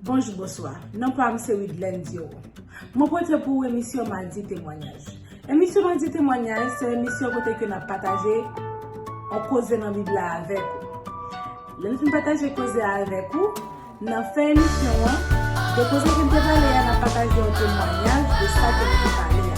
Bonjou bonswa, non pa m se Widlène Dioron. Mwen pote pou ou emisyon Madi Temwanyaj. Emisyon Madi Temwanyaj se emisyon kote ke n ap pataje yon koze nan Bib la avèk ou. Lè n fin pataje koze a avèk ou, nan fen emisyon an, de koze ke n te pale a, n ap pataje yon temwanyaj de sa ke n te pale a.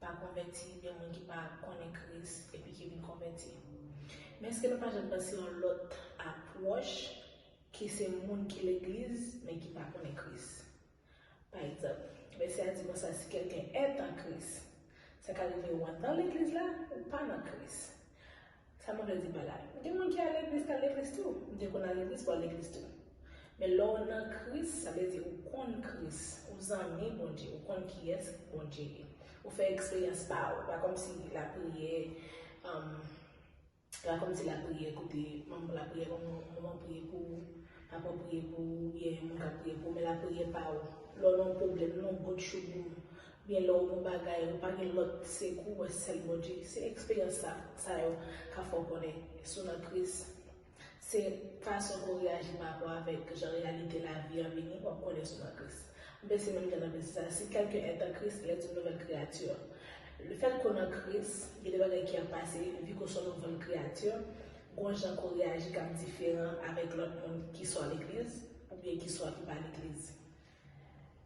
pa konvèti oubyen moun ki pa konnen Kris epi ki vin konvèti. Men èske nou pa janm panse yon lòt apwòch ki se moun ki legliz men ki pa konnen Kris? Pa egzanp, vèsè a di konsa si kèlken èt an Kris, sa ka rive ou anndan legliz la ou pa nan Kris. Sa mwen vle di pa la, gen moun ki al legliz ki al legliz tou, m te konn al legliz pou al legliz tou. Men lè w nan Kris, sa vle di ou konn Kris, ou zanmi Bondye, ou konn kiyès Bondye ye. Ou fè eksperyans pa ou, pa kòmsi lapriyè, pa kòmsi lapriyè kote manm lapriyè yon moun ap priye pou ou, papa w priye pou ou, oubyen yon moun ka priye pou ou, men lapriyè pa ou. Lè w nan yon pwoblèm, lè w nan yon gwo tchoubou. Gen lè w bon bagay ou pa gen lòt sekou wè sèl Bondye. Se eksperyans sa sa yo ka fè w konnen si w nan kriz. Se fason ke w reyaji pa rapò avèk jan reyalite lavi an vini w ap konnen si w nan Kris. Anben se menm jan nan vèsè sa, si kèlken est en Christ il est une nouvelle créature. Lefèt ke w nan Kris, gen de bagay ki ap pase vi ke w se yon nouvel kreyati, gon jan ke w reyaji k ap diferan avèk lòt moun ki swa legliz oubyen ki swa ki pa legliz.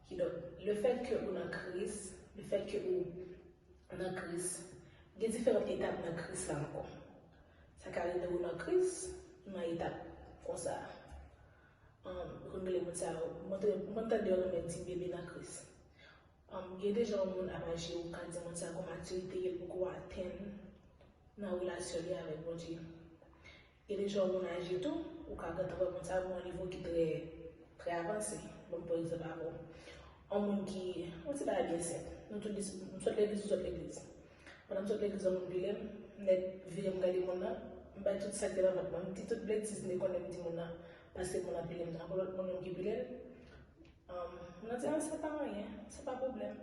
Kidonk, lefèt ke ou nan Kris, lefèt ke ou nan Kris, gen diferant etap nan Kris la ankò. Sa ka rive ou nan Kris, ou nan etap konsa a. Yo konn rele moun sa yo, m konn tande yo rele yo ti bebe nan Kris. Gen de jan yon moun ap aji, ou ka di moun sa a kon matirite ke li poko atenn nan relasyon li avèk Bondye. Epi jan moun aji tou, ou ka gentan wè moun sa gen yon nivo ki trè, trè avanse. Banm pran egzanp avèw. Yon moun ki, yon ti bagay byen senp. Nou tout di, m sot legliz ou sot legliz. Pandan m sot legliz yon moun vire m, m nèt vire m gade moun nan, m bay tout sak te nan vant mwen, m di tout betiz m te konnen di moun nan, paske moun nan pile m tankou lòt moun yo ki pile l. Moun nan di, ah se pa anyen, se pa pwoblèm.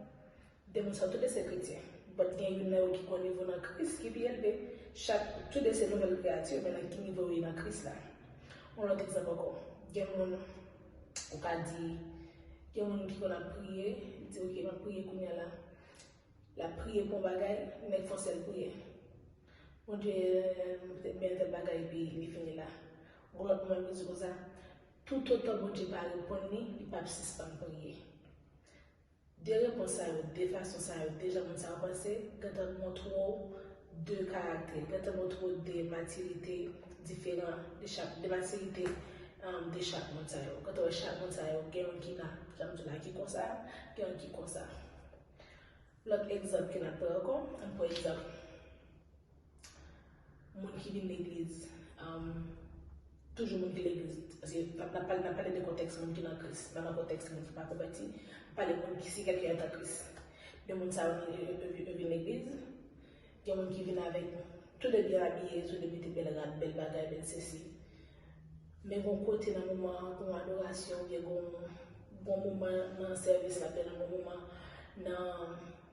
De moun sa yo tou 2 se kretyen, but gen youn nan yo ki kwè nivo nan Kris ki pi elve. Chak, tou 2 se nouvèl kreyati, men nan ki nivo yo ye nan Kris la. Yon lòt egzanp ankò, gen moun, ou ka di, gen moun ki konn ap priye, li di ok map priye kounya la, lap priye pou yon bagay, men li fòsel priye. Bondye pètèt byen tèl bagay epi li fini la. Yon lòt moun ap di konsa, toutotan Bondye pa reponn li, li pap sispann priye. De repons sa yo, de fason sa yo, deja moun sa ou panse gentan montre w de karaktè, gentan montre w de matirite diferan de chak, de matirite de chak moun sa yo. Ou gentan wè chak moun sa yo gen youn ki nan, jan m di w la, ki konsa, gen youn ki konsa. Lòt egzanp ke n ap pran ankò, ann pran egzanp. Moun ki vin legliz, toujou moun ki legliz, paske nap pale de kontèks moun ki nan kris, pa nan kontèks moun ki pa konvèti, nap pale moun ki si kèlke èt an kris. De moun sa yo yo vin legliz, gen moun ki vin avèk tou de byen abiye, tou de mete bèl rad, bèl bagay, bèl sesi. Men gon kote nan moman an, gon adorasyon oubyen gon moman nan sèvis la, gen nan gon moman nan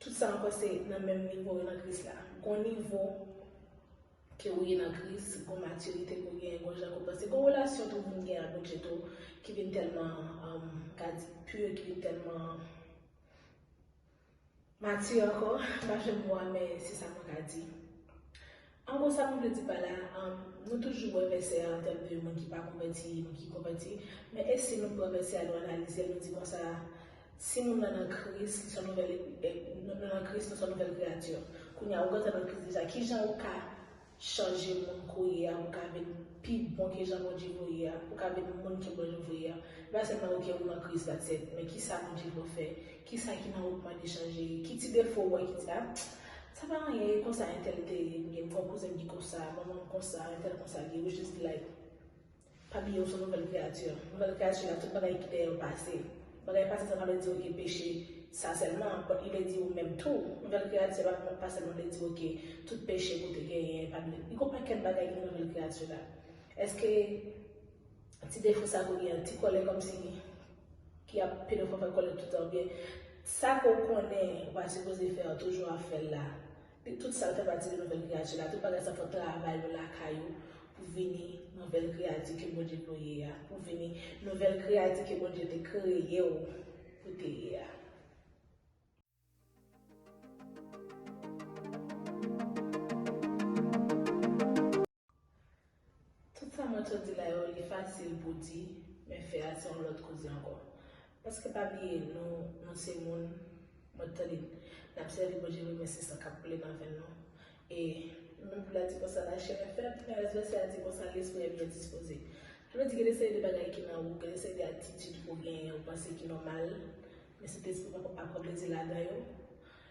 Tout sa ankò se nan menm nivo yo nan kris la. Gon nivo ke ou ye nan kris, gon matirite ke ou genyen, gon jan ke ou panse, gon relasyon tou moun genyen ak Bondye tou ki vin tèlman ka di pur, ki vin tèlman matur ankò, m pa jwenn mo a men se sa mwen ka di. An gwo sa mwen vle di pa la, nou toujou wè vèsè a an tèm de moun ki pa konvèti, moun ki konvèti, men e si nou pran vèsè a nou analize l nou di konsa, si moun nan nan Kris, li s on nouvèl, nou nan Kris nou s on nouvèl kreyati. Kounye a ou gentan nan Kris deja, kijan ou ka chanje moun kounye a pou w ka vin pi bon ke jan Bondye vle w ye a, pou w ka vin moun ke Bondye vle w ye a? Se pa sèlman ok ou nan Kris that's it, men kisa Bondye vle w fè? Kisa ki nan ou mande chanje li? Ki ti defo ou wè ki di a sa pa anyen e konsa entèl te ye m gen m fò kouzenm ki konsa manman m konsa entèl konsa li ou jis like pa bliye ou son nouvèl kreyati nouvèl kreyati la tout bagay ki dèyè yo pase bagay pase sa pa vle di ok peche sa sèlman but li vle di ou menm tou nouvèl kreyati la pa sèlman vle di ok tout peche ke w te genyen pa vle di li gen yon pakèt bagay ki nan nouvèl kreyati la eske Ti defo sa ke w gen an, ti kòlè kòmsi ki ap pede fè w fè kòlè toutan oubyen sa ke w konnen ou pa sipoze fè an toujou ap fè l la. Tout sa fè pati de nouvèl kreyati la. Tout bagay sa fè w travay yo lakay ou pou vini nouvèl kreyati ke Bondye vle w ye a, pou w vini nouvèl kreyati ke Bondye te kreye w pou w te ye a. Tout sa mwen sot di la yo li fasil pou di men fè a se yon lòt koze ankò. Paske pa bliye nou nou se moun mwen t tande nap sèvi Bondye wi men se san kap koule nan venn nou e menm pou la di konsa lachè mwen fèb men rès vèsè a di konsa lespri a byen dispoze. Sa vle di gen de seri de bagay ki nan ou gen de seri de atitid ou genyen ou panse ki nòmal men sentespri poko pa pran plezi ladan yo.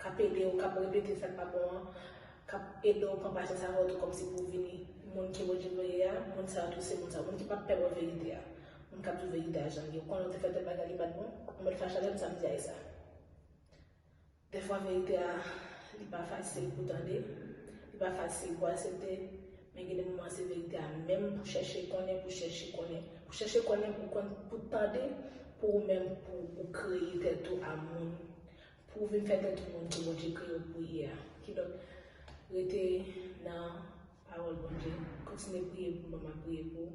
K ap ede w, k ap repete sa k pa bon an, k ap ede w pran pasyans avè w tou kòmsi pou w vini moun ke Bondye voye a, moun sa yo tou se moun sa yo, moun ki p ap pè wè verite a, moun k ap di w verite a jan l ye, ou konnen w te fè tèl bagay li pa t bon, ou mèt fache avè m samdi a e sa. Dèfwa verite a li pa fasil pou tande, li pa fasil pou asepte, men gen de moman se verite a menm pou chèche konnen, pou chèche konnen, pou chèche konnen pou w konn, pou w tande pou ou menm pou ou kreye tèt ou a moun Pou w vin fè tèt ou konn ke Bondye kreye w pou w ye a. Kidonk, rete nan pawòl Bondye. Kontinye priye pou mwen, m ap priye pou ou.